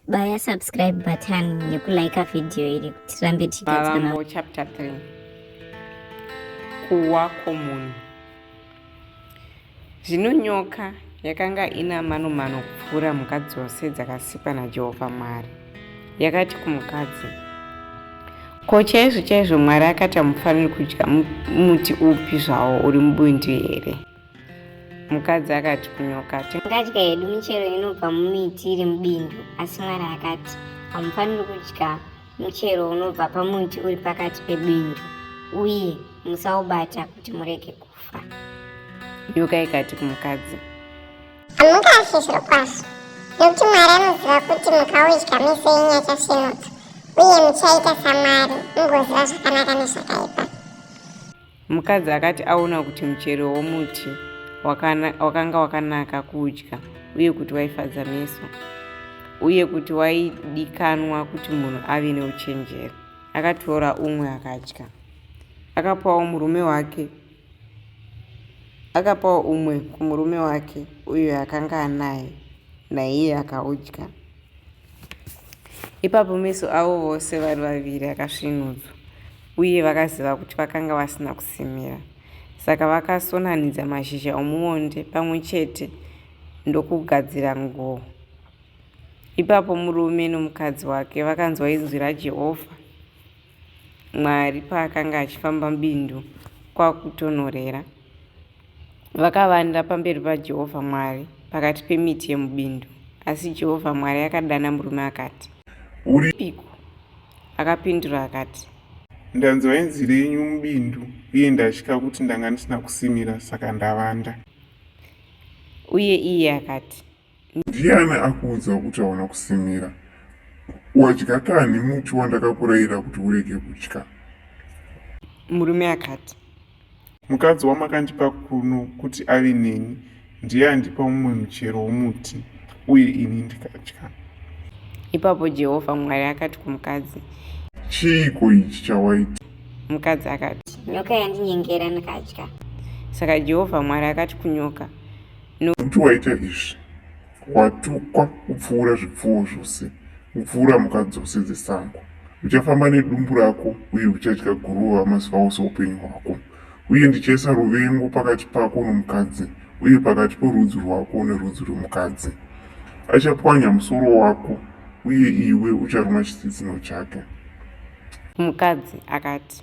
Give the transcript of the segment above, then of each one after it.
baya subscribe button nekulike video iri kuti tirambe tichigadziramo chapter 3 kuwa kwomunhu zvino nyoka yakanga ina manomano kupfuura mhuka dzose dzakasikwa najehovha mwari yakati kumukadzi ko chaizvo chaizvo mwari akati hamufaniri kudya muti upi zvawo uri mubundi here mukadzi akati kunyoka tingadya hedu michero inobva mumiti iri mubindu asi mwari akati hamufaniri kudya muchero unobva pamuti uri pakati pebindu uye musaubata kuti murege kufa nyoka ikati kumukadzi hamungafi zviro kwazvo nekuti mwari anoziva kuti mukaudya mese yenyu yachasvinuka uye muchaita samwari mugoziva zvakanaka nezvakaipa Mukadzi akati aona kuti muchero womuti wakanga wakanaka kudya uye kuti waifadza meso uye kuti waidikanwa kuti munhu ave neuchenjeri akatora umwe akadya akapawo murume wake akapawo umwe kumurume wake uyo akanga anaye naiye akaudya Ipapo meso avo vose vari vaviri akasvinudzwa, uye vakaziva kuti vakanga vasina kusimira. Saka vakasonanidza mashizha omuonde pamwe chete ndokugadzira nguo. Ipapo murume nomukadzi wake vakanzwa inzwi raJehovha. Mwari paakanga achifamba mubindu kwakutonhorera. Vakavanda pamberi paJehovha Mwari pakati pemiti yemubindu. Asi Jehovha Mwari akadana murume akati, Uripiko? Akapindura akati, Ndanzwa inzwi renyu mubindu, uye ndatya kuti ndanga ndisina kusimira, saka ndavanda. Uye iye akati, Ndiani akuudza kuti hauna kusimira? Wadya kani muti wandakakurayira kuti urege kudya? Murume akati. Mukadzi wamakandipa kuno kuti ave neni ndiye andipa mumwe muchero womuti uye ini ndikadya. Ipapo Jehovha Mwari akati kumukadzi. Chiiko ichi chawaita? Mukadzi akati. Nyoka yandinyengera ndikadya. Saka Jehovha Mwari akati kunyoka. no. Kuti waita izvi watukwa kupfuura zvipfuwo zvose kupfuura mhuka dzose dzesango uchafamba nedumbu rako uye uchadya guruva mazuva ose upenyu hwako uye ndichaisa ruvengo pakati pako nomukadzi uye pakati porudzi rwako nerudzi rwemukadzi achapwanya musoro wako uye iwe ucharuma chitsitsino chake mukadzi akati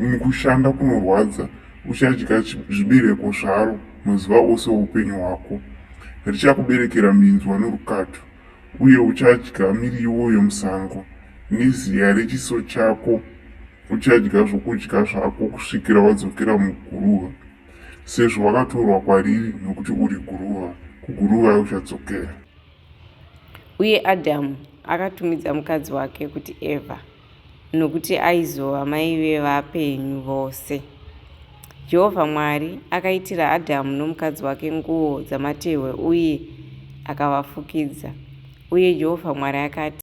umu kushanda kunorwadza uchadya zvibereko zvaro mazuva ose oupenyu hwako richakuberekera minzwa norukato uye uchadya miriwo yomusango neziya rechiso chako uchadya zvokudya zvako kusvikira wadzokera muguruva sezvo wakatorwa kwariri nokuti uri guruva kuguruva uchadzokera uye adhamu akatumidza mukadzi wake kuti eva nokuti aizova mai vevapenyu vose. Jehovha Mwari akaitira Adhamu nomukadzi wake nguo dzamatehwe uye akavafukidza. Uye Jehovha Mwari akati,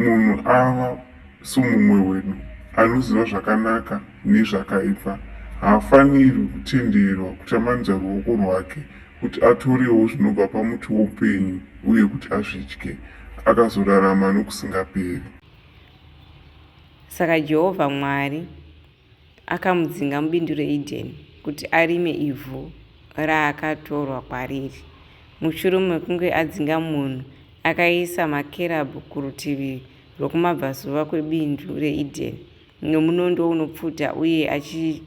munhu ava somumwe wedu anoziva zvakanaka nezvakaipa haafanirwi kutenderwa kutambanudza ruoko rwake kuti atorewo zvinobva pamuti woupenyu uye kuti azvidye akazorarama nokusingaperi saka jehovha mwari akamudzinga mubindu reEdeni kuti arime ivhu raakatorwa kwariri. Mushure mekunge adzinga munhu, akaisa makerabhu kurutivi rwokumabvazuva kwebindu reEdeni nomunondo unopfuta uye, achi,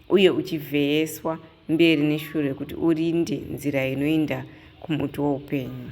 uye uchivheyeswa mberi neshure kuti urinde nzira inoenda kumuti woupenyu.